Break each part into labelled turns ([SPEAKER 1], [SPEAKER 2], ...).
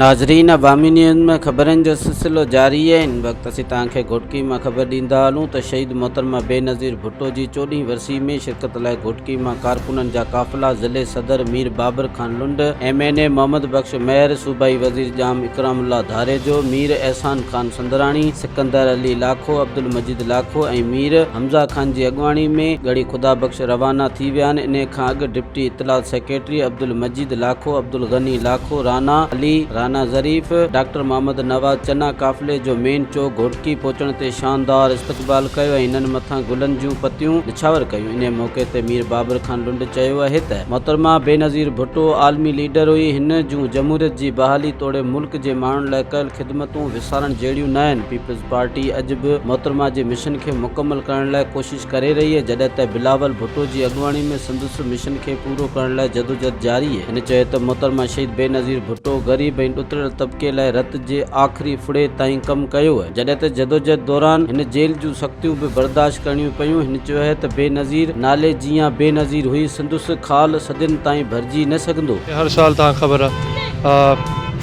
[SPEAKER 1] ناظرين عوامي نيوز ۾ خبرن جو سلسلو جاري آهي ان وقت اسين توهان کي گهوٽڪي مان خبر ڏيندا هلون ته شهيد محترمه بينظير ڀٽو جي چوڏهين ورسي ۾ شرڪت لاء گهوٽڪي مان ڪارڪنن جا قافلا ضلعي صدر Mir Babar Khan Lund M N A Muhammad Bakhsh Mahar صوبائي وزير ڄام اڪرام الله ڌاريجو مير احسان خان سندراڻي قنڌار علي لاکو، عبدالمجيد لاکو ۽ مير حمزه خان جي اڳواڻي ۾ ڳڙهي خدا بخش روانا ٿي ويا آهن، انهيء کان اڳ ڊپٽي اطلاعات سيڪريٽري عبدالمجيد لاکو، عبدالغني لاکو، رانا علي، رانا ظريف، ڊاڪٽر محمد نواز چنا قافلي جو مين چوڪ گهوٽڪي پهچڻ تي شاندار استقبال ڪيو ۽ هنن مٿان گلن جون پتيون نڇاور ڪيون، انهيء موقعي تي مير بابر خان لنڊ چيو اهي ته. محترمه بينظير ڀٽو عالمي ليڊر هئي، هن جون جمهوريت جي بحالي توڙي ملڪ جي ماڻهن لاء ڪيل خدمتون، سارڻ جهڙيون نه آهن، پيپلز پارٽي اڄ به محترمه جي مشن کي مڪمل ڪرڻ لاء ڪوشش ڪري رهي اهي جڏهن ته بلاول ڀٽو جي اڳواڻي ۾ سندس مشن کي پورو ڪرڻ لاء جدوجهد جاري اهي هن چيو ته محترمه شهيد بينظير ڀٽو غريب ۽ ڏتريل طبقي لاء رت جي آخري ڦڙي تائين ڪم ڪيو اهي جڏهن ته جدوجهد دوران هن جيل جون سختيون به برداشت ڪرڻيون پيون هن چيو اهي ته بينظير نالي جيان بينظير هئي سندس خال صدين تائين ڀرجي نه سگهندو. هر سال تهان کي خبر
[SPEAKER 2] آ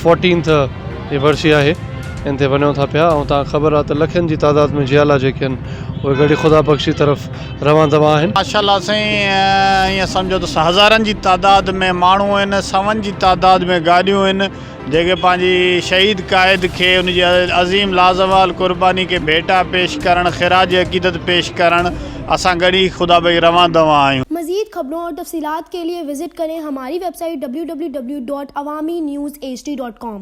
[SPEAKER 2] فورٽينٿ جي ورسي آهي ان تي وڃون ٿا پيا ۽ تان خبر آ ته لکين جي تعداد ۾ جيالا جيڪي ان اهي گڙهي خدا بخشي طرف روان دوان آهن. ماشاءالله سائين
[SPEAKER 3] ائين سمجهو ته هزارن جي تعداد ۾ ماڻهو آهن سون جي تعداد ۾ گاڏيون آهن جيڪي پنهنجي شهيد قائد کي ان جي عظيم لازوال قرباني کي ڀيٽا پيش ڪرڻ خراج عقيدت پيش ڪرڻ اسان گڙهي خدا بخشي روان دوان آهيون. مزيد خبرون اور
[SPEAKER 4] تفصيلات کے لئے وزٽ کریں ہماری ویب سائٹ www.awaminews hd.com.